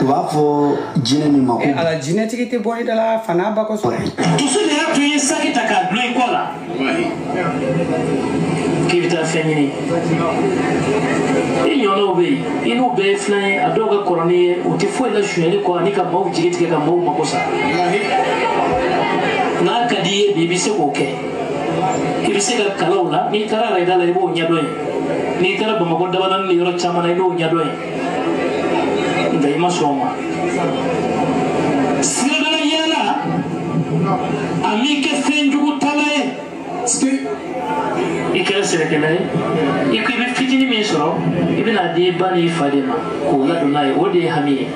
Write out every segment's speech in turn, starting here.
u b'a fɔ jinɛ min ma ko eh, ala jinɛtigi tɛ bɔ i da la fana ba kosɔn dusu de y'a to i ye saki ta k'a dulon i kɔ la k'i bɛ taa fɛn ɲini i ɲɔgɔnnaw bɛ yen i n'u bɛɛ ye filan ye a dɔw ka kɔrɔ n'i ye u tɛ foyi la sonyali kɔ ani ka maaw jigi tigɛ ka maaw mago sa n'a ka di i ye bi i bɛ se k'o kɛ i bɛ se ka kalaw la n'i taara arayida la i b'o ɲɛdɔn yen n'i taara bamakɔ dabanani ni yɔrɔ caman na i b'o ɲɛdɔn ye nka i ma sɔn o ma siradala yaala a m'i kɛ fɛn jugu tala ye i kɛra sɛnɛkɛla ye i ko i bɛ fitini min sɔrɔ i bɛna di i ba n'i fa de ma k'o ladon n'a ye o de y'i hami ye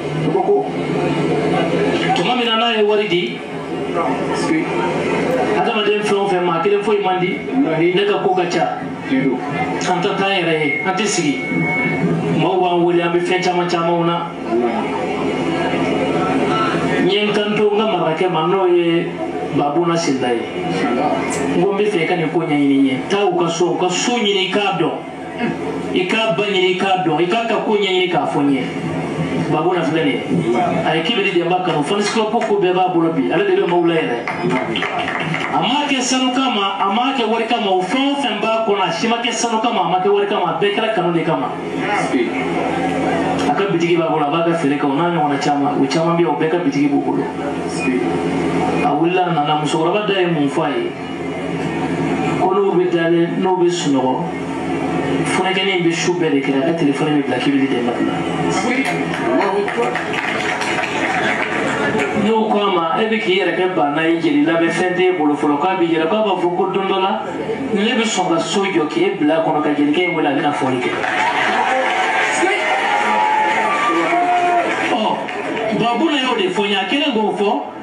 tuma min na n'a ye wari di adamaden fɛn o fɛn maa kelen foyi man di ne ka ko ka ca an ta t'an yɛrɛ ye an tɛ sigi maaw b'an wele an bɛ fɛn caman camanw na n ye n kanto n ka marakɛ ma n'o ye babuna sinda ye n ko n bɛ fɛ i ka nin ko ɲɛɲini n ye taa u ka so u ka so ɲini i k'a dɔn i k'a ba ɲini i k'a dɔn i k'a ka ko ɲɛɲini k'a fɔ n ye babuna filɛ nin ye a ye kibiri dɛnba kanu fans club ko bɛɛ b'a bolo bi ale de bɛ maaw lajɛrɛ a m'a kɛ sanu kama a m'a kɛ wari kama o fɛn o fɛn b'a kɔnɔ a si ma kɛ sanu kama a ma kɛ wari kama a bɛɛ kɛra kanu de kama a ka bitigi b'a bolo a b'a ka feere kɛ o n'a ɲɔgɔnna caman o caman bɛ yen o bɛɛ ka bitigi b'u bolo a wulila a nana musokɔrɔba da ye mun fɔ a ye ko n'o bɛ dalen n'o bɛ sunɔgɔ funankɛnin bɛ su bɛɛ de kɛ a ka telefɔni bɛ bila k'i bɛ di dɛmɛ la n'o kama e bɛ k'i yɛrɛ kɛ baana ye jeli la mais fɛn t'e bolo fɔlɔ k'a bɛ yɛlɛ k'a b'a fɔ ko don dɔ la ne bɛ sɔn ka so jɔ k'e bila a kɔnɔ ka jelikɛ in wele a bɛna fɔli kɛ. ɔ babuna y'o de fɔ n ye a kelen k'o fɔ.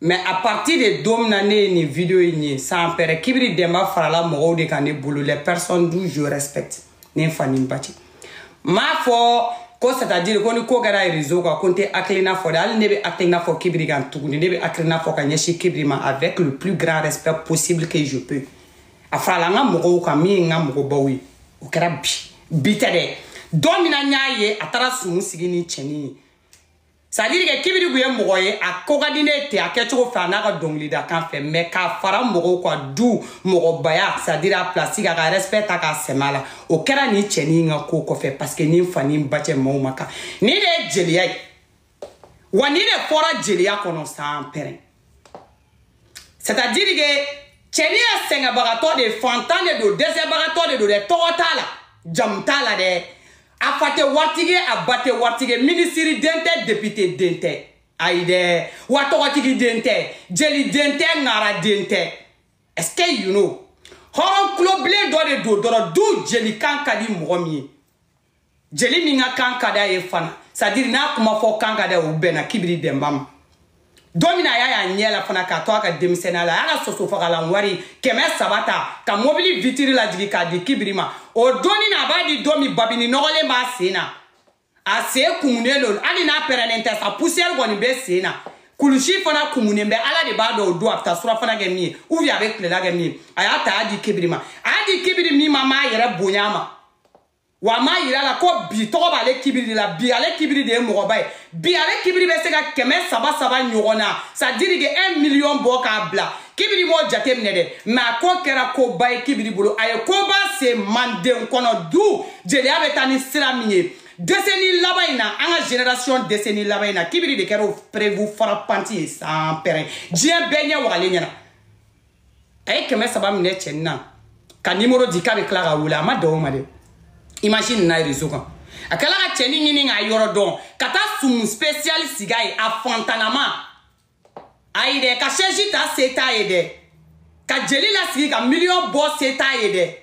mais à partir de don min na ne ye nin video in ye sanpɛrɛn kibiri dɛnba farala mɔgɔw de kan ne bolo les personnes dont je respecte ne fa ni n ba cɛ n m'a fɔ ko c'est à dire ko ni ko kɛra réseau kan ko n tɛ hakilina fɔ de hali ne bɛ hakilina fɔ kibiri kan tuguni ne bɛ hakilina fɔ ka ɲɛsin kibiri ma avec le plus grand respect possible que je peux a farala n ka mɔgɔw kan min ye n ka mɔgɔbaw ye o kɛra bi bi tɛ dɛ don min na n y'a ye a taara sumu sigi ni cɛnin ye c'est à dire que kibiri kun ye mɔgɔ ye a ko ka di ne tɛ a kɛcogo fɛ a n'a ka dɔnkilidakan fɛ mais k'a fara mɔgɔw kan du mɔgɔbaya c'est à dire a place ka ka respect ta k'a sɛmɛ a la o kɛra nin cɛnin ka ko kɔfɛ parce que ne fa ni n ba cɛ maaw ma kan nin de ye jeliya ye wa nin de fɔra jeliya kɔnɔ sanpɛrɛn c'est à dire que cɛni a sɛgɛnbagatɔ de fantan de don dɛsɛbagatɔ de don dɛ tɔgɔ t'a la jamu t'a la dɛ a fa tɛ waritigi ye a ba tɛ waritigi ye minisiri den tɛ depite den tɛ ayi dɛ wa tɔgɔtigi den tɛ jeli den tɛ ŋara den tɛ est ce que you know hɔrɔn kulobilen dɔ de don dɔrɔn du jelikan ka di mɔgɔ min ye jeli min ka kan ka d'a ye fana sadiri n'a kuma fɔ kan ka d'a o bɛnna kibiri dɛnba ma don min na a y'a y'a ɲɛ la fana k'a to a ka denmisɛnniya la a y'a ka sosofagalan wari kɛmɛ saba ta ka mobili vitiri lajigi k'a di kibiri ma o don in na a b'a di don min babini nɔgɔlen b'a sen na a sen kumunen don hali n'a pɛrɛnnen tɛ sa poussière kɔni bɛ sen na kulusi fana kumunen bɛ ala de b'a dɔn o don a bɛ taa surafana kɛ min ye ou bien a bɛ tilela kɛ min ye a y'a ta a y'a di kibiri ma a y'a di kibiri min ma m'a yɛrɛ bonya a ma wa a m'a yira a la ko bi tɔgɔ b'ale kibiri de la bi ale kibiri de ye mɔgɔba ye bi ale kibiri bɛ se ka kɛmɛ saba saba ɲɔgɔnna sadiri ke un miliyɔn bɔ k'a bila kibiri m'o jate minɛ dɛ mɛ a ko kɛra koba ye kibiri bolo a ye koba se manden kɔnɔ du jeliya bɛ taa ni sira min ye deseni laban in na an ka generation deseni laban in na kibiri de kɛra o prevu farapanti ye sanpɛrɛn diɲɛ bɛɛ ɲɛ wagalen ɲɛna a ye kɛmɛ saba minɛ cɛni na ka nimoro di k'a bɛ tila k'a wele a ma dogo a ma dɛ image nana rezo kan a tilala ka cɛni ɲini k'a yɔrɔ dɔn ka taa sumu special sigi a ye a fantanama ayi dɛ ka sɛji ta se t'a ye dɛ ka jeli lasigi ka miliyɔn bɔ se t'a ye dɛ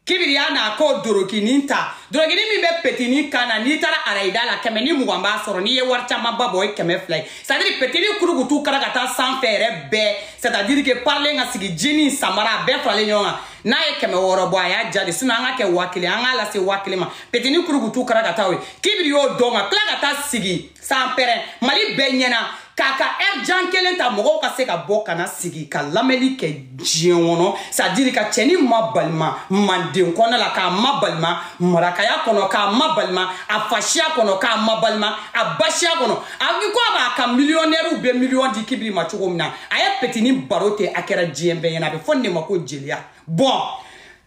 kibiri y'a n'a ka dorokinin ta dorokinin min bɛ petini kan na n'i taara arayida la kɛmɛ ni mugan b'a sɔrɔ n'i ye wari camanba bɔ o ye kɛmɛ fila ye sadiri petini kurukutu kara ka taa sanfɛ yɛrɛ bɛɛ sadiri ke parilen ka sigi jini samara a bɛɛ faralen ɲɔgɔn kan n'a ye kɛmɛ wɔɔrɔ bɔ a y'a ja de sinɔ an ka kɛ waa kelen an k'a lase waa kelen ma petini kurukutu kara ka taa o ye kibiri y'o dɔn ka tila ka taa sigi sanpɛrɛn mali bɛɛ ɲɛna k'a ka ɛri jan kelen ta mɔgɔw ka se ka bɔ ka na sigi ka lamɛnli kɛ diɲɛ kɔnɔ sadiri ka cɛni mabalima manden kɔnɔ la k'a mabalima marakaya kɔnɔ k'a mabalima a fasiya kɔnɔ k'a mabalima a basiya kɔnɔ a i ko a b'a ka miliyɔnɛriw bɛ miliyɔn di kibiri ma cogo min na a ye petini baro ten a kɛra diɲɛ bɛɛ ɲɛna a bɛ fɔ nin de ma ko jeliya bon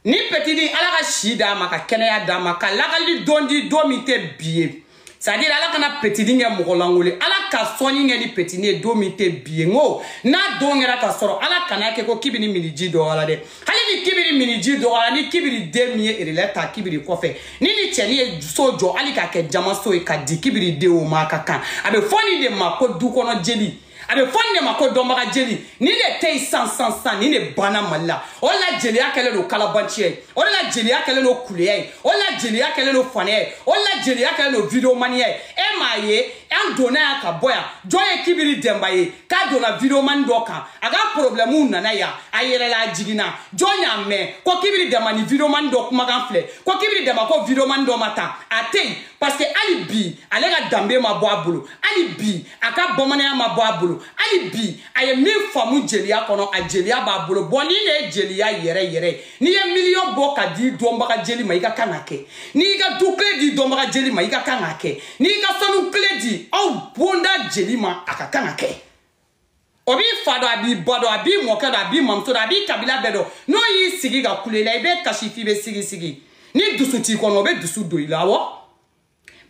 ni petini ala ka si d'a ma ka kɛnɛya d'a ma ka lagali don di don min tɛ bi ye c'est à dire ala kana petini kɛ mɔgɔ lankolon ye ala ka sɔnni kɛ ni petini ye don min tɛ bi ye n ko n'a don kɛra ka sɔrɔ ala kana kɛ ko kibiri minniji dɔgɔyara dɛ hali ni kibiri minniji dɔgɔyara ni kibiri den min ye erelɛ ta kibiri kɔfɛ ni ni cɛni ye so jɔ hali k'a kɛ jaman so ye k'a di kibiri den o ma a ka kan a bɛ fɔ nin de ma ko du kɔnɔ jeli a bɛ fɔ nin de ma ko dɔnbaga jeli nin de tɛ yen san san san nin de banna mali la o de la jeliya kɛlen don kalabanciya ye o de la jeliya kɛlen don kuleya ye o de la jeliya kɛlen don fanaya ye o de la jeliya kɛlen don videomaniya ye e m'a ye an donna yan ka bɔ yan jɔn ye kibiri dɛnba ye k'a donna videomani dɔ kan a ka porobilɛmuw nana yan a yɛrɛ la a jiginna jɔn y'a mɛn ko kibiri dɛnba ni videomani dɔ kumakan filɛ ko kibiri dɛnba ko videomani dɔ ma tan a tɛ yen parce que hali bi ale ka danbe ma bɔ a bolo hali bi a ka bamananya ma bɔ a bolo hali bi a ye min faamu jeliya kɔnɔ a jeliya b'a bolo bɔn nin de ye jeliya yɛrɛ yɛrɛ ye n'i ye miliyɔn bɔ ka di dɔnbaga jeli ma i ka kan ka kɛ n'i y'i ka du kile di dɔnbaga jeli ma i ka kan ka kɛ n'i y'i ka sanu kile di aw bonda jeli ma a ka kan ka kɛ o b'i fa dɔn a b'i ba dɔn a b'i mɔkɛ dɔn a b'i mamuso dɔn a b'i kabila bɛɛ dɔn n'o y'i sigi ka kule la i bɛ kasi f'i bɛ sigisigi ni dusu t'i kɔnɔ o bɛ dusu don i la awɔ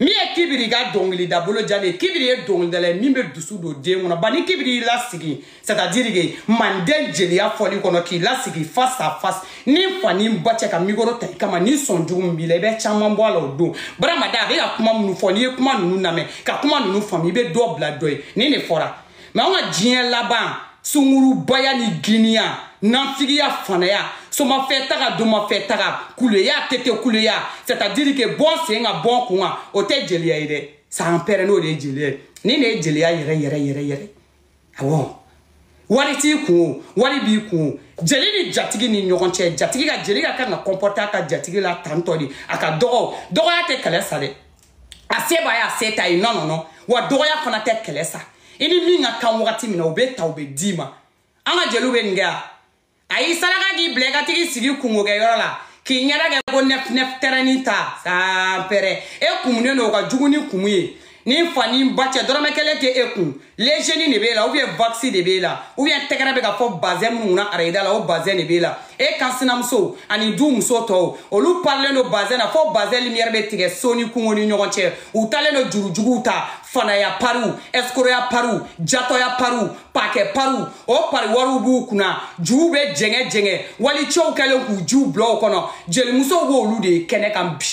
min ye kibiri ka dɔnkilida bolo jalen ye kibiri ye dɔnkilidala ye min bɛ dusu don den kɔnɔ ba ni kibiri y'i lasigi c'est à dire que manden jeliya fɔli kɔnɔ k'i lasigi face à face ni fa ni ba cɛ ka mikoro ta i kama ni sɔn jugu min b'i la i bɛ caman bɔ a la o don barama da bɛ ka kuma minnu fɔ n'i ye kuma ninnu lamɛn ka kuma ninnu faamu i bɛ dɔ bila dɔ ye nin de fɔra mɛ anw ka diɲɛ laban sungurubaya ni giniya nanfigiya fanaya somafɛtaga domafɛtaga kuleya tete kuleya c'est à dire que bɔ n sen kan bɔ n kun kan o tɛ jeliya ye dɛ san pɛrɛ n'o de ye jeliya ye nin de ye jeliya yɛrɛ yɛrɛ yɛrɛ yɛrɛ awɔ wari t'i kun o wari b'i kun o jeli ni jatigi ni ɲɔgɔn cɛ jatigi ka jeli ka kan ka kɔnpɔte a ka jatigi la tantɔ de a ka dɔgɔ dɔgɔya tɛ kɛlɛ sa dɛ a se b'a ye a se t'a ye non non non wa dɔgɔya fana tɛ kɛlɛ sa i ni min ka kan wagati min na o bɛ ta o bɛ d'i ma an ka jeliw bɛ nin kɛ a a y'i saraka k'i bila i ka tag'i sigi kunkokɛyɔrɔ la k'i ɲɛda kɛ ko nɛfinɛf tɛrɛni ta sanpɛrɛ e kumunen don o ka jugu ni kumu ye ni fa ni ba cɛ dɔrɔmɛ kelen tɛ e kun lejeni de b'e la ou bien vakisi de b'e la ou bien tɛgɛrɛ bɛ ka fɔ bazɛn minnu kunna arayida la o bazɛn de b'e la e kan sinamuso ani du muso tɔw olu parilen don bazɛn na fo bazɛn limiyɛri bɛ tigɛ so ni kungo ni ɲɔgɔn cɛ u talen don jurujuguw ta fanaya pariw ɛsikoroya pariw jatɔya pariw pakɛ pariw o pari wariw b'u kunna juw bɛ jɛngɛ jɛngɛ walicɛw kɛlen k'u jiw bila o kɔnɔ jelimusow b'olu de ye kɛnɛ kan bi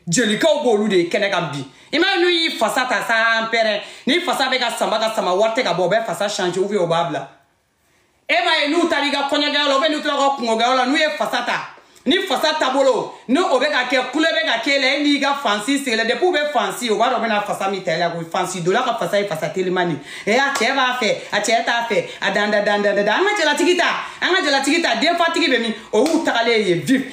jelikɛw b'olu de ye kɛnɛ kan bi i m'a ye n'u y'i fasa ta san pɛrɛ ni fasa bɛ ka sama ka sama wari tɛ ka bɔ o bɛ fasa change ou bien o b'a bila e m'a ye n'u taara i ka kɔɲɔkɛyɔrɔ la ou bien n'u taara ka kunkokɛyɔrɔ la n'u ye fasa ta ni fasa taabolo ni o bɛ ka kɛ kule bɛ ka k'e la e n'i ka fansi sigilen depuis u bɛ fansi o b'a dɔn u bɛna fasa min ta i la ko fansidonna ka fasa ye fasa teliman de ye a cɛ b'a fɛ a cɛ t'a fɛ a danda danda danda an ka jalatigi ta an ka jalatigi ta denfatigi bɛ min o y'u tagalen ye vip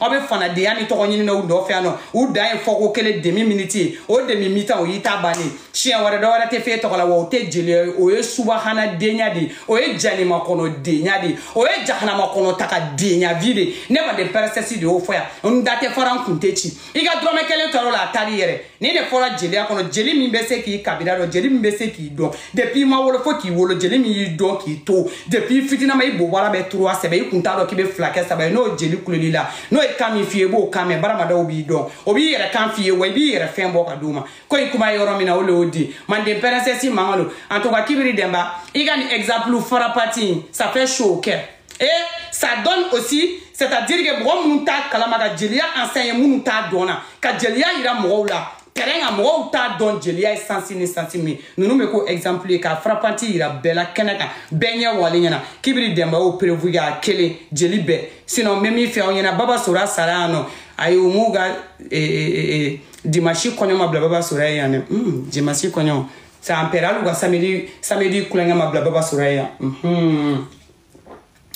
aw bɛ fanadenya ni tɔgɔ ɲini na u nɔfɛ yan nɔ u dan ye fɔko kelen demi miniti ye o demi mitan o y'i ta bannen siɲɛ wɛrɛ dɔ wɛrɛ tɛ f'e tɔgɔ la wa o tɛ jeliya ye o ye subahana denya de ye o ye janima kɔnɔ denya de ye o ye jahanama kɔnɔ taga denya vi de ne manden pɛrɛnsɛsi de y'o fɔ yan n da tɛ fara n kun tɛ ci i ka dɔrɔmɛ kelen tɔɔrɔ la a taar'i yɛrɛ nin de fɔra jeliya kɔnɔ jeli min bɛ se k'i kabila dɔn jeli min bɛ se k'i dɔn depuis i ma wolo fo k'i wolo jeli min y'i dɔn k'i to depuis i fitinama i bobara bɛ turuwa sɛbɛn i kun t'a dɔn k'i bɛ fila kɛ saba ye n'o jeli kuleli la n'o ye kan min f'i ye i b'o kan mɛn baramadaw b'i dɔn o b'i yɛrɛ kan f'i ye wa i b'i yɛrɛ fɛn bɔ ka d'u ma ko i kuma ye yɔrɔ min na o le y'o di manden pɛrɛnsɛsi mankan don en tout cas kibiri dɛnba i ka nin exemple frappant in ça fait chaud au cœur Et ça donne aussi, c'est-à-dire que mɔgɔ minnu t'a kalama ka jeliya enseigné minnu t'a dɔn na, ka jeliya yira mɔgɔw la, terrain kan mɔgɔw t'a dɔn jeliya ye sansi ni sansi min ninnu bɛ ko exemple ye ka frappante yira bɛɛ la kɛnɛ kan bɛɛ ɲɛ wale ɲɛna kibiri dɛnba y'o prévu ka kelen jeli bɛɛ sinon n bɛ min fɔ aw ɲɛna baba sora sara yan nɔ ayi u m'u ka eh, eh, eh, dimanche kɔɲɔ ma bila baba sora ye yan dɛ hmm, dimanche kɔɲɔ san pɛrɛn hali u ka samedi samedi kulonkɛ ma bila baba sora ye yan. Hmm.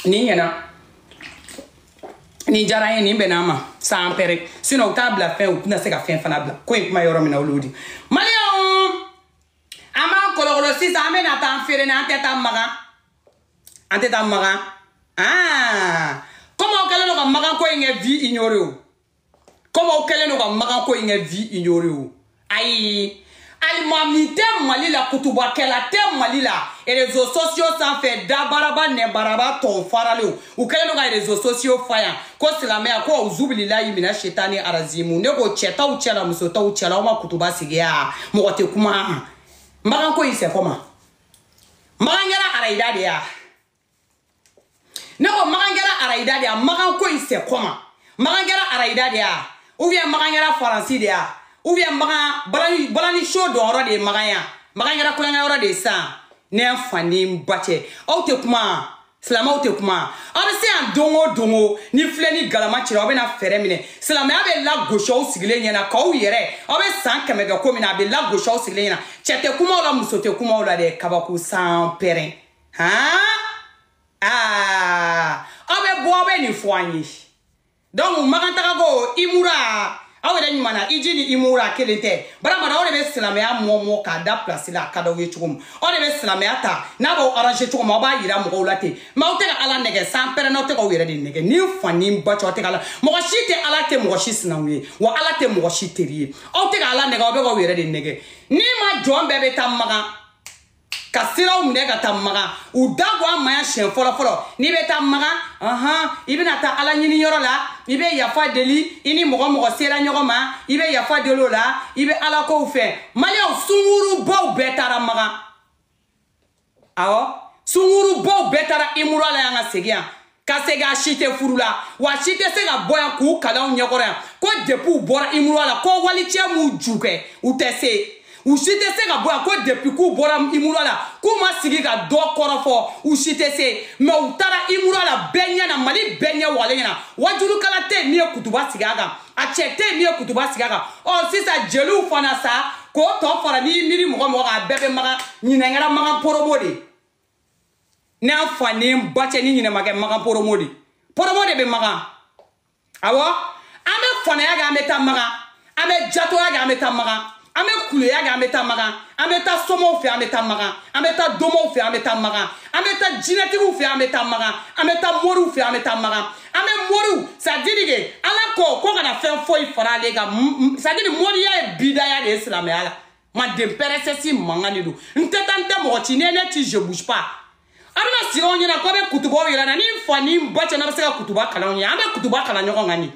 nin ɲɛna nin diyara n ye nin bɛnna n ma san pɛrɛn sinɔn u t'a bila fɛn u tɛna se ka fɛn fana bila ko i kuma yɔrɔ min na olu di maliyɛnw an b'an kɔlɔkɔlɔ sisan an bɛna taa an feere na an tɛ taa makan an tɛ taa makan aa komi aw kɛlen don ka makan ko in kɛ vu ignoré o komi aw kɛlen don ka makan ko in kɛ vu ignoré o ayi alimami tɛ mali la kutubakɛla tɛ mali la rezo sosiyo sanfɛ dabaraba nɛnbaraba tɔw faralen u kɛlen don ka rezo sosiyo fa yan ko silamɛya ko auzubililayi mina setani arazimu ne ko cɛtaw cɛla musotaw cɛla aw ma kutuba sigi yan mɔgɔ tɛ kuma makanko in c'est comment makan kɛra arayida de ya ne ko makan kɛra arayida de ya makan ko in c'est comment makan kɛra arayida de ya ou bien makan kɛra faransi de ya ou bien makan balani balani show dɔnyɔrɔ de ye makan ya makan kɛra kulankɛ yɔrɔ de ye san ne fa ni n ba cɛ aw tɛ kuma silamɛw tɛ kuma aw bɛ se yan don o don o ni filen ni galama cira aw bɛna fɛɛrɛ minɛ silamɛya bɛ lagosi aw sigilen ɲɛna k'aw yɛrɛ aw bɛ san kɛmɛ kɛ ko min na a bɛ lagosi aw sigilen ɲɛna cɛ tɛ kuma aw la muso tɛ kuma aw la dɛ kabako san pɛrɛn han aa aw bɛ bɔ aw bɛ nin fɔ an ye donc makantagako imura aw yɛrɛ ɲuman na hiji ni imura kelen tɛ baramana aw de bɛ silamɛya mɔmɔ k'a da pilasi la a ka d'aw ye cogo min aw de bɛ silamɛya ta n'a b'aw aranze cogo min aw b'a yira mɔgɔw la ten mɛ aw tɛ ka ala nɛgɛ san pɛrɛnna aw tɛ k'aw yɛrɛ de nɛgɛ ni fa ni ba cɛ aw tɛ ka ala mɔgɔ si tɛ ala tɛ mɔgɔ si sinaw ye wa ala tɛ mɔgɔ si teri ye aw tɛ ka ala nɛgɛ aw bɛ k'aw yɛrɛ de nɛgɛ n'i ma jɔn bɛɛ bɛ taa makan ka siraw minɛ ka taa makan u da ko an maya siɲɛ fɔlɔ fɔlɔ n'i bɛ taa makan ɔhɔn i bɛna taa ala ɲini yɔrɔ la i bɛ yafa deli i ni mɔgɔ mɔgɔ sera ɲɔgɔn ma i bɛ yafa deli o la i bɛ ala kow fɛ maliyɛnw sungurubaw bɛɛ taara makan awɔ sungurubaw bɛɛ taara imura la yan ka segin yan ka se ka si tɛ furu la wa si tɛ se ka bɔ yan k'u kali an ɲɛkɔrɔ yan ko depi u bɔra imura la ko walicɛ m'u ju kɛ u tɛ se u si tɛ se ka bɔ yan ko depi k'u bɔra imura la k'u ma sigi ka dɔ kɔrɔfɔ u si tɛ se mɛ u taara imura la bɛɛ ɲɛ na mali bɛɛ ɲɛ wale ɲɛna wajulikɛla tɛ min ye kutuba sigi a kan a cɛ tɛ min ye kutuba sigi a kan ɔ sisan jeliw fana sa k'o tɔ fara n'i miiri mɔgɔ mɔgɔ kan a bɛɛ bɛ makan ɲinɛn kɛra makan poromo de n'an fa ni ba cɛ ni ɲinɛn ma kɛ makan poromo de poromo de bɛ makan awɔ an bɛ fanaya kɛ an bɛ taa makan an bɛ jatoya kɛ an bɛ taa makan an bɛ kuleya kɛ an bɛ taa makan an bɛ taa somaw fɛ an bɛ taa makan an bɛ taa domaw fɛ an bɛ taa makan an bɛ taa jinɛtigiw fɛ an bɛ taa makan an bɛ taa moriw fɛ an bɛ taa makan an bɛ moriw c'est-à-dire que ala ko ko kana fɛn foyi fara ale kan c'est-à-dire moriya ye bidaya de ye silamɛya la manden pɛrɛsɛsi mankan de don n tɛ taa n tɛ mɔgɔ ci ne ne ti je bouge pas a tɛna sigi anw ɲɛna k'aw bɛ kutubaw yira an na ni n fa ni n ba cɛ n'a bɛ se ka kutuba kalan anw ye an bɛ kutuba kalan ɲɔgɔn kan de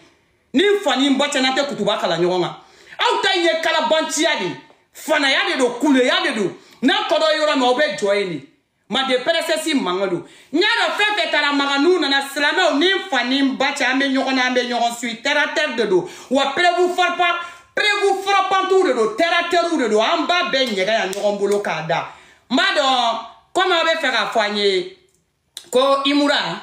ni n fa ni n ba cɛ n'a tɛ kutuba kalan ɲɔgɔn kan aw ta in ye kalabanciya de ye fanaya de don kuleya de don n'a ko don yɔrɔ min aw bɛ jɔ yen de mande pɛrɛsɛsi mankan don n y'a dɔn fɛn fɛn taara makan n'u nana silamɛw ni n fa ni n ba cɛ an bɛ ɲɔgɔn na an bɛ ɲɔgɔn suyi tɛratɛri de don wa pɛrɛbu fɔrɔpa pɛrɛbu fɔrɔpantiw de don tɛratɛriw de don an b'a bɛɛ ɲɛgɛn yan ɲɔgɔn bolo k'a da n b'a dɔn kɔmi aw bɛ fɛ k'a fɔ an ye ko imura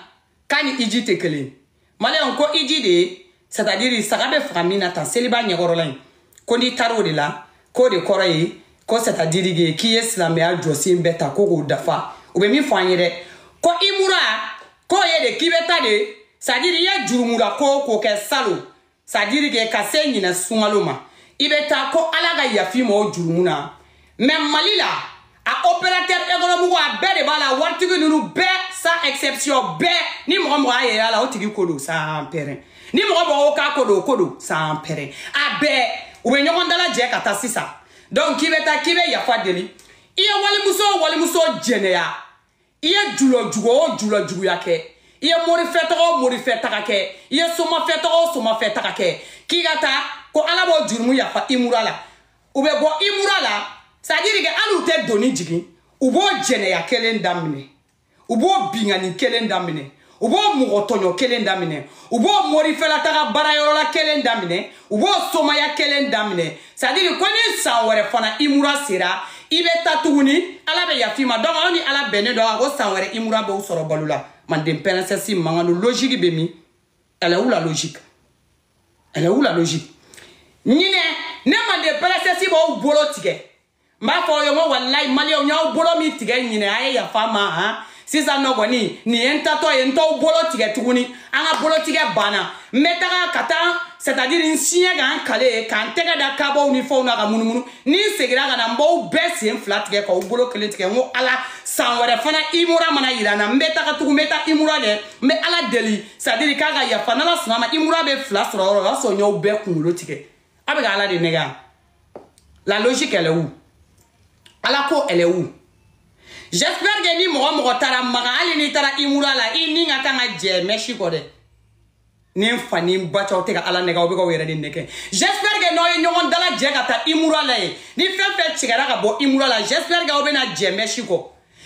k'a ni iji tɛ kelen ye maliyɛnw ko iji de ye c'est-à-dire saga bɛ faga min na tan seliba ɲɛkɔrɔla in ko n'i taara o de la k'o de kɔrɔ ye ko c'est-à-dire que k'i ye silamɛya jɔsen bɛɛ ta ko k'o dafa u bɛ min fɔ an ye dɛ ko imura k'o ye de k'i bɛ taa de c'est-à-dire i ye jurumu la ko o ko kɛ salon c'est-à-dire que ka se ɲinɛ sunkalo ma i bɛ taa ko ala ka yafa i ma o jurumu na mɛ mali la a opérateur économique a bɛɛ de b'a la waritigi ninnu bɛɛ sans exception bɛɛ ni mɔgɔ mɔgɔ y'a yɛrɛ y'a la o tigi ko don sanpɛrɛn ni mɔgɔ mɔgɔ ko k'a ko don o ko don sanpɛrɛn a bɛɛ u bɛ ɲɔgɔn dalajɛ ka taa sisan donc k'i bɛ taa k'i bɛ yafa deli i ye walimuso o walimuso jɛnɛya i ye julajugu o julajuguya kɛ i ye morifɛtaga o morifɛtaga kɛ i ye somafɛtaga o somafɛtaga kɛ k'i ka taa ko ala b'o jurumu yafa imura la u bɛ bɔ imura la c'est-à-dire que hali u tɛ doni jigin u b'o jɛnɛya kelen daminɛ u b'o binkanni kelen daminɛ u b'o mɔgɔ tɔɲɔ kelen daminɛ u b'o morifɛlataga baarayɔrɔla kelen daminɛ u b'o somaya kelen daminɛ c'est à dire ko ni san wɛrɛ fana imura sera i bɛ ta tuguni ala bɛ yafa i ma donc aw ni ala bɛnnen don ko san wɛrɛ imura b'aw sɔrɔ balo la manden pɛrɛnsɛsi mangano logique bɛ min elle est où la logique elle est où la logique ɲinɛ ne manden pɛrɛnsɛsi b'aw bolo tigɛ n b'a fɔ aw ye n ko walayi maliyɛnw n y'aw bolo min tigɛ ɲinɛ a ye yafa n ma han sisan nɔ kɔni nin ye n taatɔ ye n t'aw bolo tigɛ tuguni an ka bolotigɛ banna n bɛ taga ka taa c'est à dire n siɲɛ ka n kali ka n tɛgɛ da kabaw ni fɛnw na ka munumunu ni n seginna ka na n b'aw bɛɛ sen fila tigɛ k'aw bolo kelen tigɛ n ko ala san wɛrɛ fana imura mana yira n na n bɛ taga tugun n bɛ taa imura dɛ n bɛ ala deli c'est à dire k'a ka yafa n'ala sɔnna a ma imura bɛ fila sɔrɔ yɔrɔ o y'a sɔrɔ n y'aw bɛɛ kunkolo tigɛ a bɛ ka ala de nɛgɛ yan la logique elle est où ala ko elle est où j'espère que ni mɔgɔ mɔgɔ taara maka hali n'i taara imura la i ni ka kan ka jɛ mɛsi kɔ dɛ ni n fa ni n ba cɛ aw tɛ ka ala nɛgɛ aw bɛ ka aw yɛrɛ de nɛgɛ j'espère que n'aw ye ɲɔgɔn dalajɛ ka taa imura la yen ni fɛn fɛn tigɛra ka bɔ imura la j'espère que aw bɛna jɛ mɛsi kɔ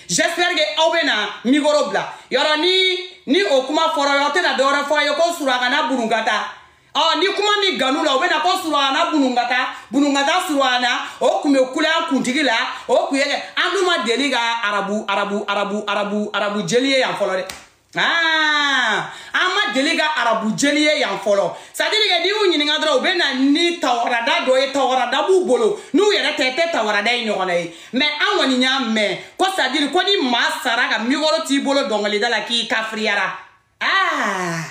j'espère que aw bɛna mikoro bila yɔrɔ ni ni o kuma fɔra aw tɛna dɔwɛrɛ fɔ a ye ko surakana burunkata ɔ ni kuma min gan u la u bɛ na ko surana bunungata bunungata surana o tun bɛ kule an kuntigi la o tun ye kɛ an dun ma deli ka arabu arabu arabu arabu arabu jeli ye yan fɔlɔ dɛ Ah, an ma deli ka arabu jeli ye yan fɔlɔ c'est à dire que n'i y'u ɲininka dɔrɔn u bɛ na ni tawarada dɔ ye tawarada b'u bolo n'u yɛrɛ tɛ tɛ tawarada ye ɲɔgɔn na ye mais an kɔni y'a mɛn ko c'est à dire ko ni maa sara ka mikɔrɔ t'i bolo dɔnkilida la k'i kafiriyara aa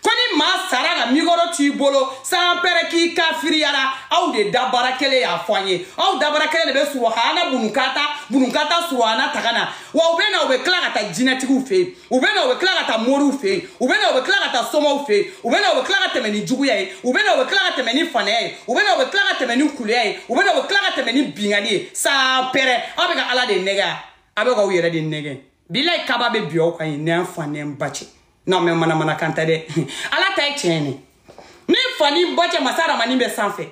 ko ni maa sara ka mikɔrɔ t'i bolo sanpɛrɛn k'i kafiriyara aw de dabara kelen y'a fɔ an ye aw dabara kelen de bɛ suruhana bununkata bununkata suruhana taga na wa u bɛ na u bɛ tila ka taa jinɛtigiw fɛ yen u bɛ na u bɛ tila ka taa moriw fɛ yen u bɛ na u bɛ tila ka taa somaw fɛ yen u bɛ na u bɛ tila ka tɛmɛ ni juguya ye u bɛ na u bɛ tila ka tɛmɛ ni fanaya ye u bɛ na u bɛ tila ka tɛmɛ ni kuleya ye u bɛ na u bɛ tila ka tɛmɛ ni binkanni ye sanpɛrɛn aw bɛ ka ala de nɛgɛ a bɛ k'aw yɛrɛ de nɛgɛ bilayi kaba bɛ bin aw kan yen n'an fa n'an ba cɛ non mais manamanakan tɛ dɛ ala ta ye tiɲɛ ye ni n fa ni n ba cɛ masa aramani bɛ sanfɛ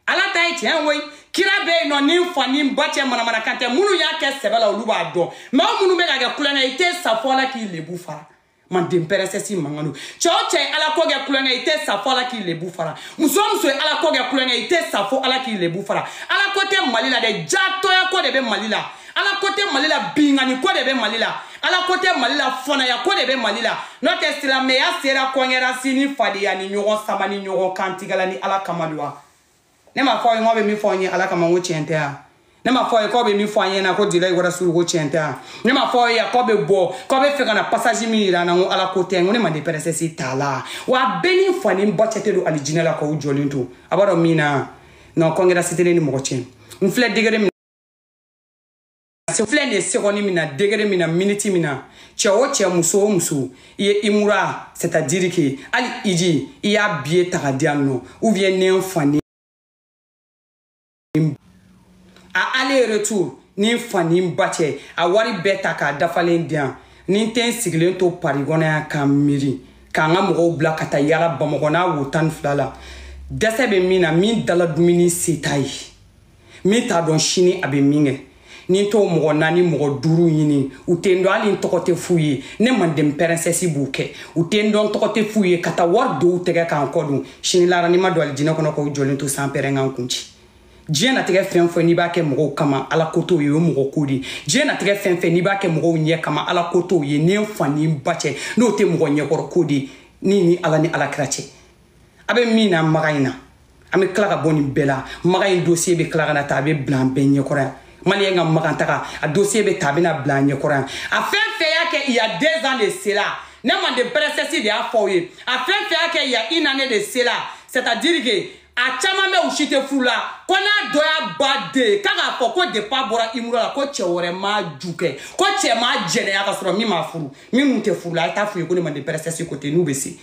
ala ta ye tiɲɛ koyi kira bɛ yen non ni n fa ni n ba cɛ manamanakan tɛ minnu y'a kɛ sɛbɛ la olu b'a dɔn mais aw minnu bɛ k'a kɛ tulonkɛ i tɛ sa fo ala k'i lebu fara manden pɛrɛnsɛsi mankan don cɛ o cɛ ye ala ko kɛ tulonkɛ i tɛ sa fo ala k'i lebu fara muso o muso ye ala ko kɛ tulonkɛ i tɛ sa fo ala k'i lebu fara ala ko tɛ mali la dɛ jatɔya ko de bɛ mali la ala ko tɛ mali la binkanni ko de bɛ mali la ala ko tɛ mali la fanaya ko de bɛ mali la n'o tɛ silamɛya sera concurrence ni fadenya ni ɲɔgɔn sama ni ɲɔgɔn kantigɛla ni ala kama don wa ne m'a fɔ aw ye k'aw bɛ min fɔ an ye ala kama n ko tiɲɛ tɛ yan ne m'a fɔ aw ye k'aw bɛ min fɔ an ɲɛna ko lilayi warasuru ko tiɲɛ tɛ yan ne m'a fɔ aw ye k'aw bɛ bɔ k'aw bɛ fɛ ka na pasazi min yira an na n ko ala ko tɛ n ko ne manden pɛrɛsɛsi t'a la wa a bɛɛ ni fa ni ba cɛ tɛ don alijinɛ la k'aw jɔlen to a b'a dɔn min na nka kɔntara si tɛ ne ni mɔgɔ cɛ n filɛ degere min se filɛ nin ye sekondi min na degere min na miniti min na cɛ o cɛ muso o muso i ye imura c'est à dire que hali hiji i y'a biye ta ka di yan nɔ ou bien ne n fa ni a aller retour ni n fa ni n ba cɛ a wari bɛɛ ta k'a dafalen di yan ni n tɛ n sigilen to pari kɔnɔ yan k'a miiri k'an ka mɔgɔw bila ka taa yala bamakɔ n'a wo tan ni fila la dɛsɛ bɛ min na min dala dumuni se t'a ye min t'a dɔn sini a bɛ min kɛ ni n t'o mɔgɔ naani mɔgɔ duuru ɲini u tɛ n dɔn hali n tɔgɔ tɛ f'u ye ne manden pɛrɛnsɛsi b'u kɛ u tɛ n dɔn tɔgɔ tɛ f'u ye ka taa wari don u tɛgɛ ka n kɔ don sini lahara n'i ma don alijinɛ kɔnɔ k'aw jɔlen to sanpɛrɛn ka n kun ci diɲɛ natigɛ fɛn fɛn n'i b'a kɛ mɔgɔw kama ala ko t'o ye o ye mɔgɔ ko de ye diɲɛ natigɛ fɛn fɛn n'i b'a kɛ mɔgɔw ɲɛ kama ala ko t'o ye ni n fa ni n ba cɛ n'o tɛ mɔgɔ ɲɛkɔrɔ ko de ye ni ni ala ni ala kira cɛ a bɛ min na maka in na an bɛ tila ka bɔ nin bɛɛ la maka in dosiye bɛ tila ka na ta a bɛ bila an bɛɛ ɲɛkɔrɔ yan maliyɛn ka makan taga a dosiye bɛ ta a bɛna bila an ɲɛkɔrɔ yan a fɛn fɛn y'a kɛ il y a deux ans de cela ne manden pɛrɛsɛsi de y'a fɔ aw ye a fɛn fɛn y'a kɛ il y a une année de cela c'est à dire que a caman bɛ u si tɛ furu la ko n'a dɔ y'a baden ye k'a k'a fɔ ko depi a bɔra imura la ko cɛ wɛrɛ m'a ju kɛ ko cɛ m'a jɛnɛya ka sɔrɔ min ma furu minnu tɛ furu la a ye taa f'u ye ko ne manden pɛrɛsɛsi ko ten n'u bɛ se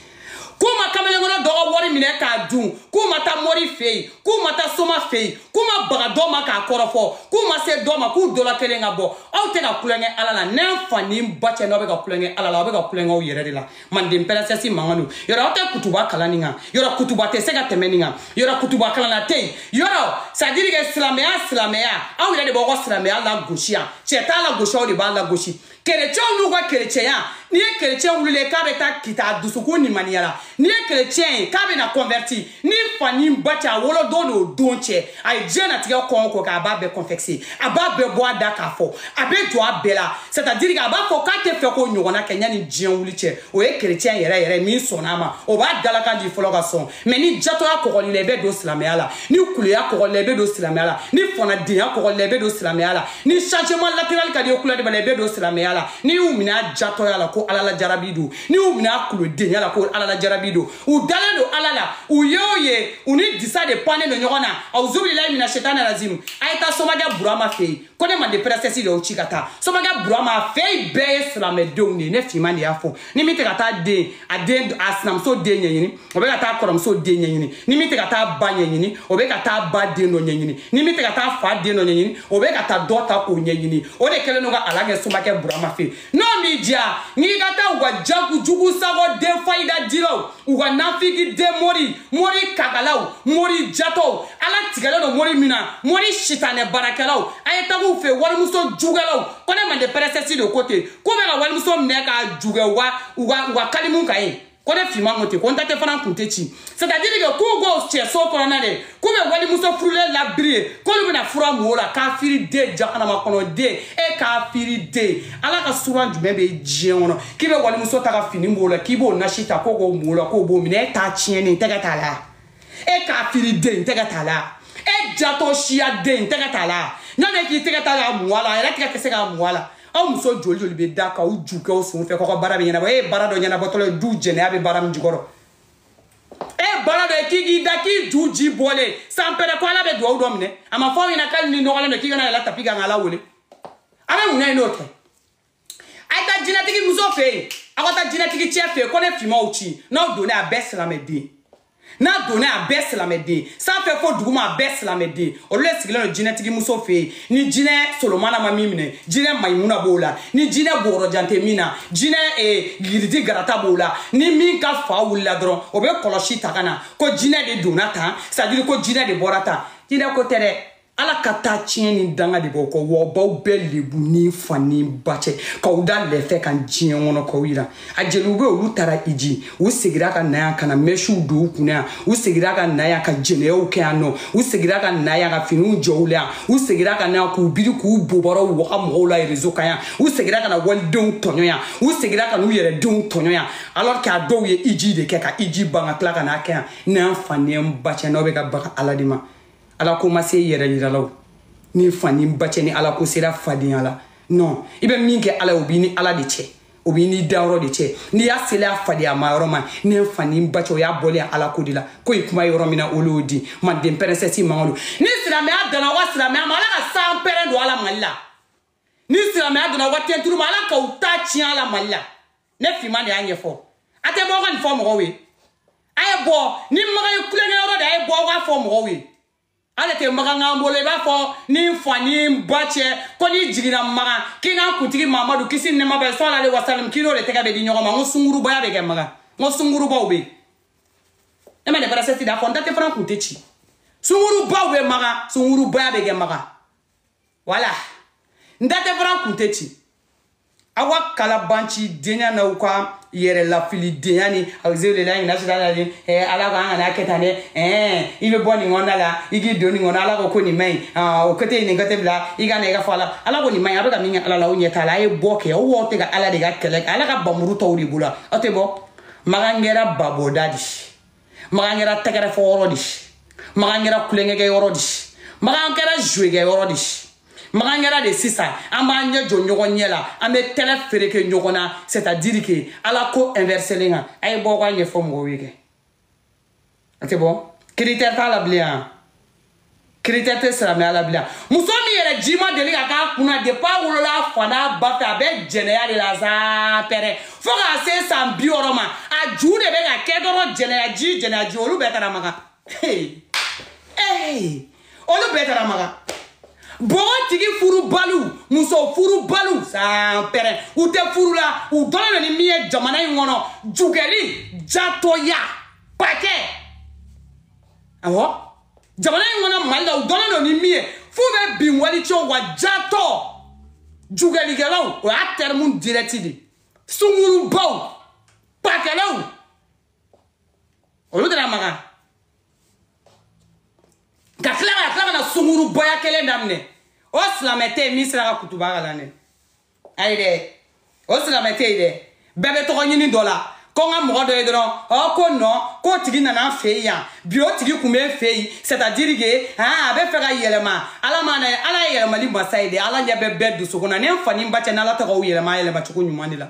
k'u ma kamalenkɔrɔ dɔ ka wari minɛ k'a dun k'u ma taa mori fɛ yen k'u ma taa soma fɛ yen k'u ma baga dɔ ma k'a kɔrɔfɔ k'u ma se dɔ ma k'u dɔla kelen ka bɔ aw tɛ ka kulonkɛ ala la ni n fa ni ba cɛ n'aw bɛ ka kulonkɛ ala la aw bɛ ka kulonkɛ aw yɛrɛ de la manden pɛrɛsɛsi mankan don yɔrɔ aw tɛ kutuba kalan nin kan yɔrɔ kutuba tɛ se ka tɛmɛ nin kan yɔrɔ kutuba kalanna tɛ yen yɔrɔ c'est à dire que silamɛya silamɛya aw yɛrɛ de b'aw ka silamɛya lagosi yan cɛ t'a lagosi aw de b'a lagosi kerecɛnw n'u ka kerecɛnya n'i ye kerecɛn wulilen k'a bɛ taa kita dusukun nimaniya la n'i ye kerecɛn ye k'a bɛna kɔnvɛriti ni fa ni ba cɛ a wolodon n'o don cɛ a ye diɲɛ natigɛ ko o ko kɛ a b'a bɛɛ kɔnfɛse a b'a bɛɛ bɔ a da k'a fɔ a bɛ jɔ a bɛɛ la c'est à dire que a b'a fɔ k'a tɛ fɛ k'o ɲɔgɔnna kɛ yanni diɲɛ wuli cɛ o ye kerecɛn yɛrɛ yɛrɛ min sɔnna a ma o b'a dalakan di fɔlɔ ka sɔn mɛ ni jatɔya kɔgɔr'i la i bɛ don silamɛya la ni kuleya kɔgɔr'i la i bɛ don silamɛya la ni fɔnadenya kɔgɔr'i la i bɛ don silamɛya la ni changement latéral ka d'i ye kulɛri b'a la i bɛ don silamɛya la n'i y'u minɛ a jatɔya la ko ala la jarabi don n'i y'u minɛ a kulodenya la ko ala la jarabi don u dalen don ala la u ye o ye u ni disa de pannen don ɲɔgɔn na awuzubililayi mina setani razim a ye taa somakɛ burama fɛ yen ko ne mande pɛrɛsɛsi de y'aw ci ka taa somakɛ burama fɛ yen bɛɛ ye silamɛdenw de ye ne finman de y'a fɔ ni min tɛ ka taa den a den a sinamuso den ɲɛɲini o bɛ ka taa kɔrɔmuso den ɲɛɲini ni min tɛ ka taa ba ɲɛɲini o bɛ ka taa ba den dɔ ɲɛɲini ni min tɛ ka taa fa den dɔ ɲɛɲini o bɛ ka taa dɔ ta k'o ɲɛɲini o de kɛlen don ka ala kɛ somakɛ burama fɛ yen n'o m'i diya n'i ka taa u ka jago jugu sago de fayida diraw u ka nafigi den mori mori kagalaw mori jatɔw ala tigɛlen don mori min na mori sitanɛ baarakɛlaw a ye tag'u fɛ walimuso jukɛlaw ko ne mande pɛrɛsɛsi de ko ten k'u bɛ ka walimuso minɛ k'a ju kɛ u ka u ka u ka kalimu kan ye ko ne finman ko ten ko n da tɛ fara n kun tɛ ci c'est à dire que k'u k'o cɛ so kɔnɔna de k'u bɛ walimuso furulen labiri ye k'olu bɛna fura mun o la kafiri den jahanama kɔnɔ den e kafiri den ala ka suran jumɛn bɛ diɲɛ kɔnɔ k'i bɛ walimuso ta ka fini b'o la k'i b'o nasi ta k'o k'o mun o la k'o b'o minɛ e ta tiɲɛnen tɛgɛ t'a la e kafiri den tɛgɛ t'a la e jatɔ siya den tɛgɛ t'a la n'a bɛ k'i tɛgɛ t'a la a mun a la a yɛrɛ tɛgɛ tɛ se k'a mun a la aw muso joli joli bɛ da k'aw ju kɛ aw sen fɛ k'aw ka baara bɛ ɲɛnabɔ e ye baara dɔ ɲɛnabɔtɔla ye du jɛnɛya bɛ baara min jukɔrɔ e baara dɔ ye k'i k'i da k'i ju ji bɔlen san pɛrɛn ko ala bɛ dugawu dɔ minɛ a ma fɔ aw ɲɛna k'ale n'i nɔgɔlen don k'i kana yɛlɛn tapi kan ka ala wele a bɛ mun na ye n'o tɛ a ye taa jinɛtigi muso fɛ yen aw ka taa jinɛtigi cɛ fɛ yen ko ne finman y'aw ci n'aw donna a bɛɛ silamɛden n'a donna a bɛɛ silamɛden sanfɛ fo duguma a bɛɛ silamɛden olu de sigilen don jinɛtigi muso fɛ yen ni jinɛ solomana ma min minɛ jinɛ mayimuna b'o la ni jinɛ bɔgɔrɔjan tɛ min na jinɛ eh, giridi garata b'o la ni min ka fa wulila dɔrɔn o bɛ kɔlɔsi ta ka na ko jinɛ de donna tan c'est à dire ko jinɛ de bɔra tan jinɛ ko tɛ dɛ ala ka tatiɲɛ ni danga de b'aw kɔ w'a b'aw bɛɛ lebu ni fa ni ba cɛ k'aw da lɛfɛ kan diɲɛ kɔnɔ k'aw yira a jeliw bɛ olu taara iji u segira ka na yan ka na mɛsiw don u kunna yan u segira ka na yan ka jɛnɛyaw kɛ yan nɔ u segira ka na yan ka finiw jɔ u la yan u segira ka na yan k'u biri k'u bobɔrɔw waga mɔgɔw la rezo kan yan u segira ka na walidenw tɔɲɔ yan u segira ka n'u yɛrɛ denw tɔɲɔ yan alors que a dɔw ye iji de kɛ ka iji ban ka tila ka n'a kɛ yan ne fa ni n ba cɛ n'aw bɛ ka baga ala de ma ala ko ma se yɛrɛ yiralaw ni fa ni n ba cɛ ni ala ko sera fadenya la non i bɛ min kɛ ala ye o b'i ni ala de cɛ o b'i n'i dayɔrɔ de cɛ n'i y'a seli a fadenyama yɔrɔ ma ne fa ni n ba cɛ o y'a bɔlen ala ko de la ko ye kuma yɔrɔ min na olu y'o di manden pɛrɛsɛsi mangolo ni silamɛya danna wa silamɛya ma ala ka san pɛrɛn don a la mali la ni silamɛya danna wa tɛnturu ma ala k'aw ta tiɲɛ a la mali la ne finman de y'a ɲɛfɔ a tɛ bɔ aw ka nin fɔ mɔgɔw ye a ye bɔ ni makan ye kulonkɛyɔrɔ de a ye bɔ aw k'a fɔ mɔgɔw ye ale tɛ makan k'an bolo i b'a fɔ ni n fa ni n ba cɛ ko n'i jiginna makan k'i n'an kuntigi mamadu kisi ni nɛma b'a ye salala aleyi wasalam k'i n'o de tɛgɛ bɛ di ɲɔgɔn ma n ko sungurubaya bɛ kɛ makan n ko sungurubaw bɛ yen ne manden pɛrɛsɛsi de y'a fɔ n da tɛ fara n kun tɛ ci sungurubaw bɛ makan sungurubaya bɛ kɛ makan wala n da tɛ fara n kun tɛ ci aw ka kalabanci denya n'aw ka yɛrɛ lafilidenya ni awuzubilahi mina sitani eh, ala ko an kana kɛ tan dɛ eh, i bɛ bɔ nin kɔnɔna la i k'i don nin kɔnɔ ala ko ko nin man ɲi ah, o kɛtɛ nin kɛtɛ bila i ka na i ka fɔ ala ala ko nin man ɲi a bɛ ka min kɛ ala la o ɲɛ t'a la a ye bɔ kɛ aw wo tɛ ka ala de ka kɛlɛ kɛ ala ka bamuru t'aw de bolo aw tɛ bɔ makan kɛra babɔda de ye makan kɛra tɛgɛrɛ fɔ yɔrɔ de makan kɛra kulenkɛkɛ yɔrɔ de makan kɛra zuwekɛ yɔrɔ de makan kɛra de sisan an b'an ɲɛ jɔ ɲɔgɔn ɲɛ la an bɛ tɛlɛ fereke ɲɔgɔn na c'est à dire que ala ko inverselen kan a ye bɔ k'a ɲɛfɔ mɔgɔw ye kɛ a tɛ bɔ critère t'a la bilen yan critère tɛ silamɛya la bilen muso min yɛrɛ ji ma deli ka k'a kunna depi a wolola a fa n'a ba fɛ a bɛ jɛnɛya de la san pɛrɛ fo k'a se san bi wɔɔrɔ ma a ju de bɛ ka kɛ dɔrɔn jɛnɛya ji jɛnɛya ji olu bɛɛ taara makan olu bɛɛ taara makan bɔgɔtigi furubaliw muso furubaliw san pɛrɛ u tɛ furu la u dɔnnen don ni min ye jamana in kɔnɔ jugɛli jatɔya pakɛ awɔ jamana in kɔnɔ mali la u dɔnnen don ni min ye f'u bɛ bin walicɛw wa jatɔ jugɛlikɛlaw o y'a tɛrimu dirɛti de sungurubaw pakɛlaw olu taara makan ka tila ka tila ka na sungurubaya kelen daminɛ o silamɛ tɛ yen min sera ka kutuba kalan dɛ a ye dɛ o silamɛ tɛ yen dɛ bɛɛ bɛ tɔgɔ ɲini dɔ la ko n ka mɔgɔ dɔ ye dɔrɔn ɔ ko non k'o tigi nana an fɛ yen yan bi o tigi kun bɛ n fɛ yen c'est à dire que a bɛ fɛ ka yɛlɛma ala ma na ala ye yɛlɛmali masa ye dɛ ala ɲɛ bɛ bɛɛ dusukun na ne n fa ni n ba cɛ n'ala tɛ k'aw yɛlɛma yɛlɛma cogo ɲuman de la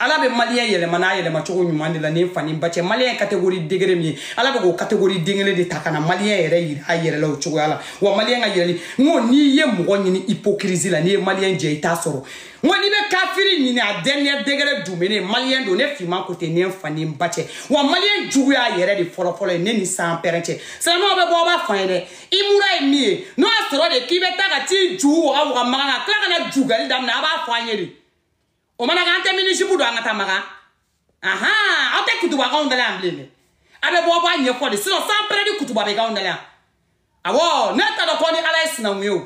ala bɛ maliyɛn yɛlɛma n'a yɛlɛma cogo ɲuman de la ne fa ni n ba cɛ maliyɛn kategori degere min ye ala bɛ k'o kategori den kelen de ta ka na maliyɛn yɛrɛ yira a yɛrɛ la o cogoya la wa maliyɛn ka yɛlɛli n ko n'i ye mɔgɔ ɲini ipokirizi la n'i ye maliyɛn jɛ i t'a sɔrɔ n ko n'i bɛ kafiri ɲini a dernier degré dumene maliyɛn don ne finman ko ten ne fa ni n ba cɛ wa maliyɛn juguya yɛrɛ de fɔlɔfɔlɔ ye ne ni san pɛrɛn cɛ silamɛw bɛ bɔ aw b'a fɔ an ye dɛ i mura ye min ye n'o y'a sɔrɔ de k'i bɛ taa ka t'i ju waga waga makan ka tila ka na jugɛli daminɛ a b'a fɔ an ye de o mana kɛ an tɛ minizipu don an ka taa makan ahan aw tɛ kutuba k'anw dala yan bilen dɛ a bɛ bɔ aw b'a ɲɛfɔ de sinon san pɛrɛ de kutuba bɛ k'anw dala yan awɔ ne t'a dɔn k'aw ni ala ye sinanku ye o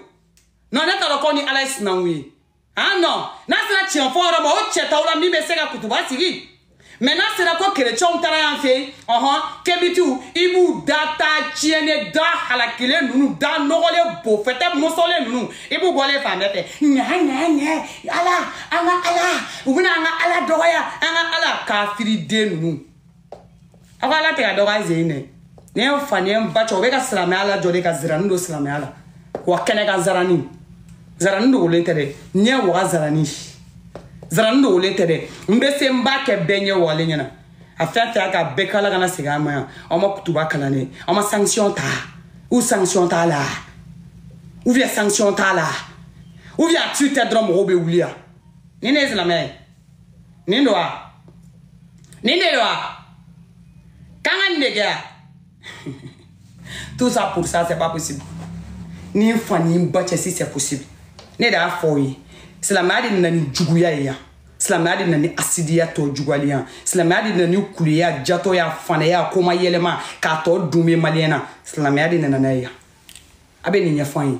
non ne t'a dɔn k'aw ni ala ye sinanku ye ah non n'a sera tiɲɛ fɔ yɔrɔ ma o cɛ t'aw la min bɛ se ka kutuba sigi mɛ n'a sera ko kerecɛnw taara yan fɛ ɔhɔn kebitiw i b'u da ta tiɲɛnen da halakilen ninnu da nɔgɔlen bo fɛtɛ mɔsɔlen ninnu i b'u bɔlen ye fan bɛɛ fɛ ɲa ɲa ɲa ala an ka ala u bɛna an ka ala dɔgɔya an ka ala kafiriden ninnu aw ka ala tɛ ka dɔgɔya zen dɛ ni n fa ni n ba cɛ o bɛ ka silamɛya lajɔ de ka zirani don silamɛya la wa kɛnɛ kan zarani zarani dogolen tɛ dɛ ɲɛ waga zarani zarani dogolen tɛ dɛ n bɛ se n b'a kɛ bɛɛ ɲɛ wagalen ɲɛna a fɛn fɛn ka bɛɛ kala kana segin an ma yan aw ma kutuba kalan dɛ aw ma sanction ta ou sanction t'a la ou bien sanction t'a la ou bien a tu tɛ dɔrɔn mɔgɔw bɛ wuli yan ni ne ye silamɛ ye nin don wa nin de don wa k'an ka nin de kɛ wa tout ça pour ça c'est pas possible ni n fa ni n ba cɛ si c'est possible ne de y'a fɔ o ye silamɛya de nana ni juguya ye yan silamɛya de nana ni hasidiya tɔ juguyali yan silamɛya de nana ni keleya jatɔya fanaya kuma yɛlɛma k'a tɔ dun bɛ maliyɛn na silamɛya de nana n'a ye yan a bɛ nin ɲɛfɔ an ye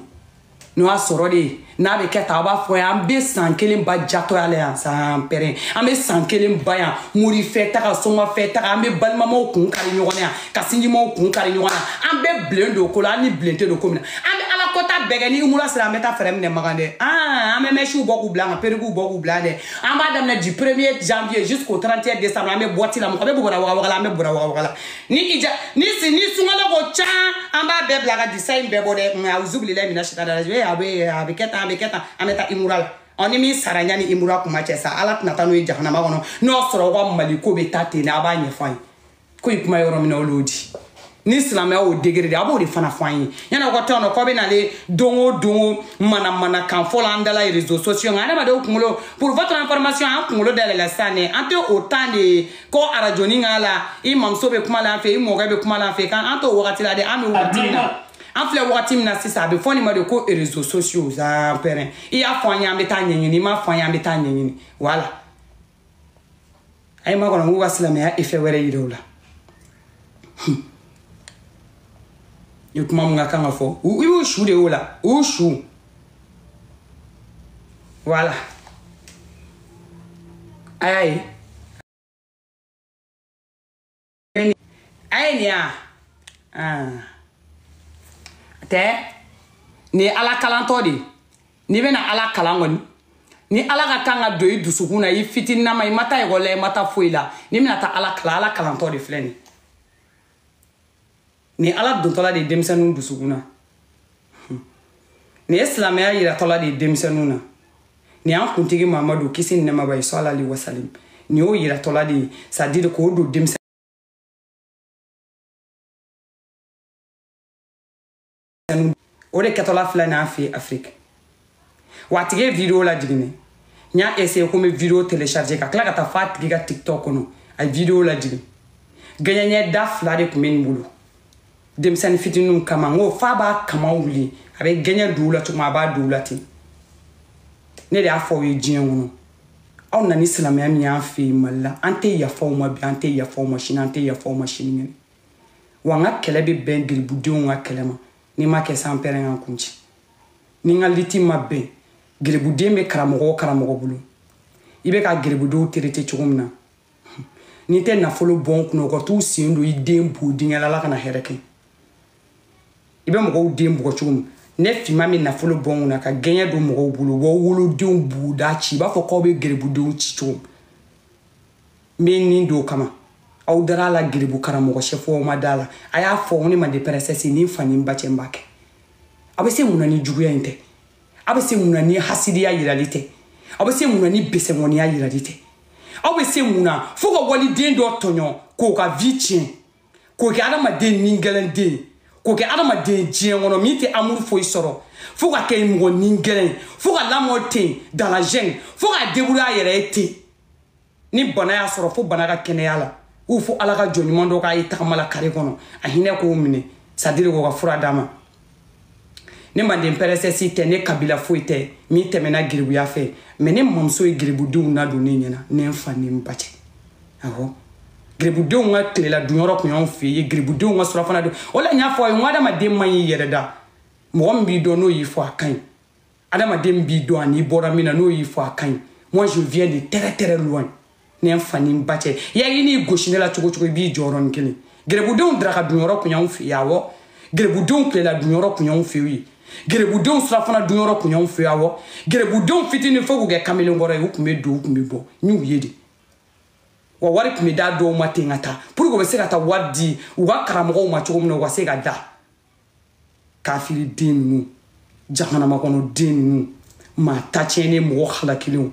n'o y'a sɔrɔ de n'a bɛ kɛ tan a b'a fɔ an bɛ san kelen ban jatɔya la yan san pɛrɛn an bɛ san kelen ban yan morifɛ taga sɔngɔfɛ taga an bɛ balimamaw kun kari ɲɔgɔn na yan ka sinjimaw kun kari ɲɔgɔn na an bɛɛ bilen don ko la an ni bilen tɛ don ko min na an bɛ ala kɔnta bɛɛ kɛ ni umura sera an bɛ taa fɛɛrɛ minɛ makan dɛ an bɛ mɛsiw bɔ k'u bila an ka perikiw bɔ k'u bila dɛ an b'a daminɛ du premier janvier jusqu'au 31 décembre an bɛ boîte la mɔgɔ bɛ bɔra wagawaga la an bɛ bɔra wagawaga la ni ija ni si ni sunkalo ko can an b'a bɛɛ bila ka disa in bɛɛ bɔ dɛ nka awuzubilahi mina sitan da la ee a bɛ a bɛ kɛ tan a bɛ kɛ tan an bɛ taa imura la ɔ ni min sara yanni imura kuma cɛ sa ala tɛna taa n'o ye jahanama kɔnɔ n'o sɔrɔ aw ka mali ko bɛ taa ten de a b'a ɲɛfɔ an ye ko in kuma yɔrɔ min na olu y'o di ni silamɛya y'o degré de a b'o de fana fɔ an ye yanni aw ka tɔn dɔ k'aw bɛ n'ale don o don manamanakan fɔ la an da la réseaux sociaux nka adamadenw kunkolo pour votre information an kunkolo dayɛlɛla sisan dɛ an tɛ o temps de ko arajoni k'a la i mamuso bɛ kuma la an fɛ i mɔkɛ bɛ kuma la an fɛ kan an t'o wagati la dɛ an bɛ wagati min na an filɛ wagati min na sisan a bɛ fɔ nin ma de ko réseaux sociaux zan pɛrɛn i y'a fɔ an ye an bɛ taa ɲɛɲini i m'a fɔ an ye an bɛ taa ɲɛɲini voilà a ye n makɔnɔ k'u ka silamɛya effet wɛrɛ yira u la i kuma mun ka kan ka fɔ i y'u su de y'o la u y'u su voilà a y'a ye a ye nin IA tɛ nin ye ala kalantɔ de ye n'i bɛna ala kalan kɔni ni ala ka kan ka don i dusukun na i fitininama i ma taa ekɔli la i ma taa foyi la n'i bɛna taa ala kalan ala kalantɔ de filɛ nin nin ala dontɔla de ye denmisɛnninw dusukun na nin ye silamɛya yiratɔla de ye denmisɛnninw na nin y'an kuntigi mamadu kisi ni nɛɛma b'a ye sɔla ali wasalim nin y'o yiratɔla de ye c'est-à-dire k'o don denmisɛn o de kɛtɔla filɛ n'a fɛ afiriki wa a tigi ye video lajigin n y'a essaye ko n bɛ video télécharger ka tila ka taa fo a tigi ka tiktok kɔnɔ a ye video lajigin gɛɲɛ da fila de tun bɛ nin bolo denmisɛnnin fitininw kama n ko f'a b'a kama wuli a bɛ gɛɲɛ d'u la cogo a b'a d'u la ten ne de y'a fɔ aw ye diɲɛ kɔnɔ aw nana ni silamɛya min y'an fɛ yen mali la an tɛ yafa aw ma bi an tɛ yafa aw ma sini an tɛ yafa aw ma sini kɛnɛ wa n ka kɛlɛ bɛ bɛn geribudenw ka kɛlɛ ma n'i ma kɛ san pɛrɛn ka n kun ci ni n ka liti ma bɛn geribuden bɛ karamɔgɔ o karamɔgɔ bolo i bɛ ka geribudenw terete cogo min na ni n tɛ nafolo bɔn kunna u ka t'u sen don i den bo dingɛ la ala kana hɛrɛ kɛ i bɛ mɔgɔw den bugɔ cogo min ne fana bɛ nafolo bɔn kunna ka gɛɲɛ don mɔgɔw bolo wa wolodenw boda ci i b'a fɔ k'aw bɛ geribudenw ci cogo min n bɛ nin don o kama aw dara a la giribu karamɔgɔ sɛfuw aw ma da a la a y'a fɔ ne manden pɛrɛsɛsi ni n fa ni n ba cɛ n b'a kɛ a bɛ se mun na ni juguya in tɛ a bɛ se mun na ni hasidiya yirali tɛ a bɛ se mun na ni besɛmɔniya yirali tɛ aw bɛ se mun na fo ka waliden dɔ tɔɲɔ k'o ka vie tiɲɛ k'o kɛ adamaden nigɛlɛn den k'o kɛ adamaden diɲɛ kɔnɔ min tɛ amour foyi sɔrɔ fo ka kɛ mɔgɔ nigɛlɛn fo ka lamɔ ten dans la gêne fo ka débrouiller a yɛrɛ ye ten ni bana y'a sɔrɔ fo bana ka kɛnɛya a la ou fo ala ka jɔn ɲuman dɔ k'a ye tagama la kare kɔnɔ a hinɛ k'o minɛ c'est-à-dire k'o ka fura d'a ma ne manden pɛrɛsɛsi tɛ ne kabila foyi tɛ min tɛmɛna giribuya fɛ mais ne mamuso ye giribudenw nadon ne ɲɛna ne n fa ni n ba cɛ awɔ giribudenw ka tilela dunyɔrɔ kun y'anw fɛ yen giribudenw ka surafana don o la n y'a fɔ a ye n ko adamaden man ɲi i yɛrɛ da mɔgɔ min b'i dɔn n'o y'i fɔ a ka ɲi adamaden b'i dɔn an'i bɔra min na n'o y'i fɔ a ka ɲi moi je viens de très très loin ne ye n fa ni n ba cɛ ya i n'i gosi ne la cogo o cogo i b'i jɔ yɔrɔnin kelen gɛrɛbudenw daraka dunyɔrɔ kun y'anw fɛ yen awɔ gɛrɛbudenw tilela dunyɔrɔ kun y'anw fɛ yen gɛrɛbudenw surafana dunyɔrɔ kun y'anw fɛ yen awɔ gɛrɛbudenw fitinin fo k'u kɛ kamalen kɔrɔ ye u kun bɛ don u kun bɛ bɔ n y'u ye de wa wari tun bɛ d'a dɔw ma ten ka taa pour que u bɛ se ka taa wari di u ka karamɔgɔw ma cogo min na u ka se ka da kafiri den ninnu jahanama kɔnɔ den ninnu maa ta tiɲɛnen mɔgɔ halakilenw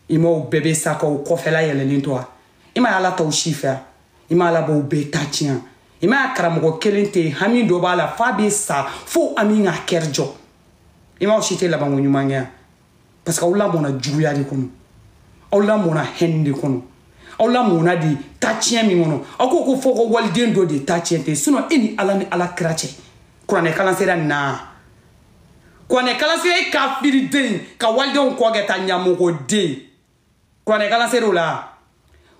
i ma aw bɛɛ bɛ sa k'aw kɔfɛla yɛlɛlen to a i ma ala t'aw si fɛ a i ma ala b'aw bɛɛ ta tiɲɛ i ma karamɔgɔ kelen tɛ hami dɔ b'a la f'a bɛ sa fo ami ka kɛri jɔ i ma aw si tɛ labanko ɲuman kɛ yan parce que aw lamɔna juguya de kɔnɔ aw lamɔna haine de kɔnɔ aw lamɔna de tatiɲɛ min kɔnɔ aw ko ko fo ka waliden dɔ de ta tiɲɛ ten sinon e ni ala ni ala kira cɛ kuranɛ kalan sera naa kuranɛ kalan sera e kafiriden ka walidenw kɔ kɛ ta ɲamɔgɔden kuranɛkalan ser'o la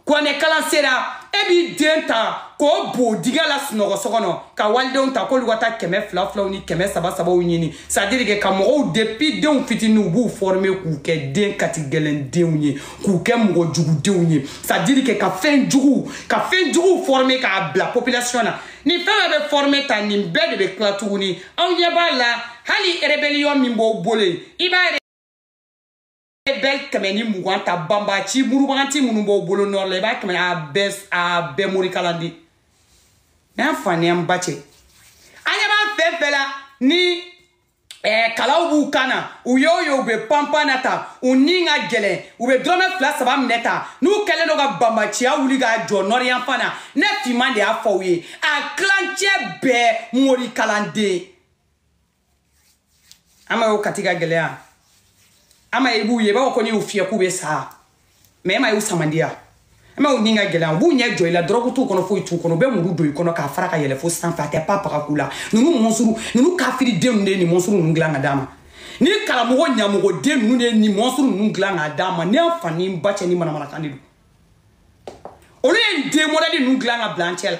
kuranɛkalan sera e b'i den ta k'o bo dingɛ la sunɔgɔ so kɔnɔ ka walidenw ta k'olu ka taa kɛmɛ fila filaw ni kɛmɛ saba sabaw ɲini c'est à dire que ka mɔgɔw depuis denw fitini u b'u fɔrime k'u kɛ den katigɛlɛn denw ye k'u kɛ mɔgɔ jugudenw ye c'est à dire que ka fɛn juguw ka fɛn juguw fɔrime k'a bila population na nin fɛn bɛɛ bɛ fɔrime tan nin bɛɛ de bɛ tila tuguni aw ɲɛ b'a la hali rebellion min b'aw bolo yen i b'a e bɛɛ kɛmɛ ni mugan ta banbaci murubaganti minnu b'aw bolo nɔri la i b'a kɛmɛ a bɛɛ a bɛɛ morikalanden ne fa ni n ba cɛ an ɲɛ b'a fɛn fɛn la ni eh, kalaw b'u kan na u y'o ye u bɛ panpan na tan u ni ka gɛlɛn u bɛ dɔrɔmɛ fila saba minɛ ta n'u kɛlen don ka banbaciya wuli k'a jɔ nɔri yanfan na ne finman de y'a f'aw ye a tilancɛ bɛɛ morikalanden ama y'o kati ka gɛlɛya ama i b'u ye i b'a fɔ ko n'i y'u fiyɛ k'u bɛ sa mɛ e ma y'u samandiya e ma y'u ni ka gɛlɛya u b'u ɲɛ jɔ i la dɔrɔgu t'u kɔnɔ foyi t'u kɔnɔ u bɛ muru don i kɔnɔ k'a fara ka yɛlɛn fo sanfɛ a tɛ pa paga k'u la ninnu mɔnsuru ninnu kafiridenw de ye nin mɔnsuru ninnu dilan ka d'an ma nin karamɔgɔ ɲamɔgɔden ninnu de ye nin mɔnsuru ninnu dilan ka d'an ma ne fa ni n ba cɛ ni manamanakan de don olu ye nin den mɔdɛli ninnu dilan ka bila an cɛ la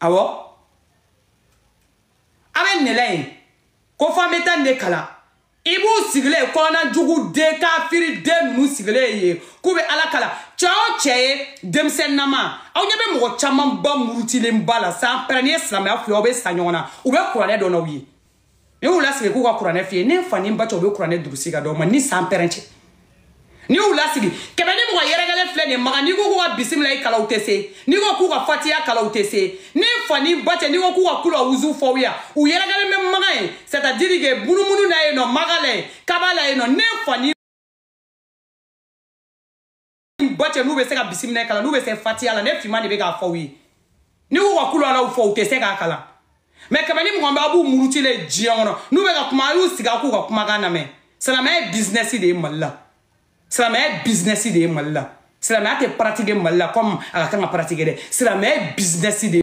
awɔ a bɛ nɛlɛ ye ko fɔ an bɛ taa nin de kalan i b'u sigilen ye kɔnɔna jugu den kafiri den ninnu sigilen ye k'u bɛ ala kalan cɛ o cɛ ye denmisɛnninama aw ɲɛ bɛ mɔgɔ camanba murutilenba la sanpɛrɛn n'i ye silamɛya fili aw bɛ sa ɲɔgɔn na u bɛ kuranɛ dɔn n'aw ye n'i y'u lasigi k'u ka kuranɛ f'i ye ne fa ni n ba cɛ u bɛ kuranɛ durusi k'a d'aw ma ni sanpɛrɛn cɛ n'i y'u lasigi kɛmɛ ni mugan yɛrɛkɛlen filɛ nin maga n'i ko k'u ka bisimilayi kalan u tɛ se n'i ko k'u ka fatiya kalan u tɛ se ne fa ni n ba cɛ n'i ko k'u ka kula wuzu fɔ yan u yɛrɛkɛlen bɛ maga yen c'est à dire que munumunu na yen nɔ maga la yen kaba la yen nɔ ne fa ni ba cɛ n'u bɛ se ka bisimila kalan n'u bɛ se fatiya la ne finman de bɛ k'a f'aw ye n'i k'u ka kulu alaw fɔ u tɛ se k'a kalan mɛ kɛmɛ ni mugan bɛ aw b'u murutilen diɲɛ kɔnɔ n'u bɛ ka kuma a y'u sigi a k'u ka kumakan lamɛn silamɛya ye bizinɛsi de ye mali la silamɛya ye bizinɛsi de ye mali la silamɛya tɛ paratike mali la kɔmi a ka kan ka paratike dɛ silamɛya ye bizinɛsi de ye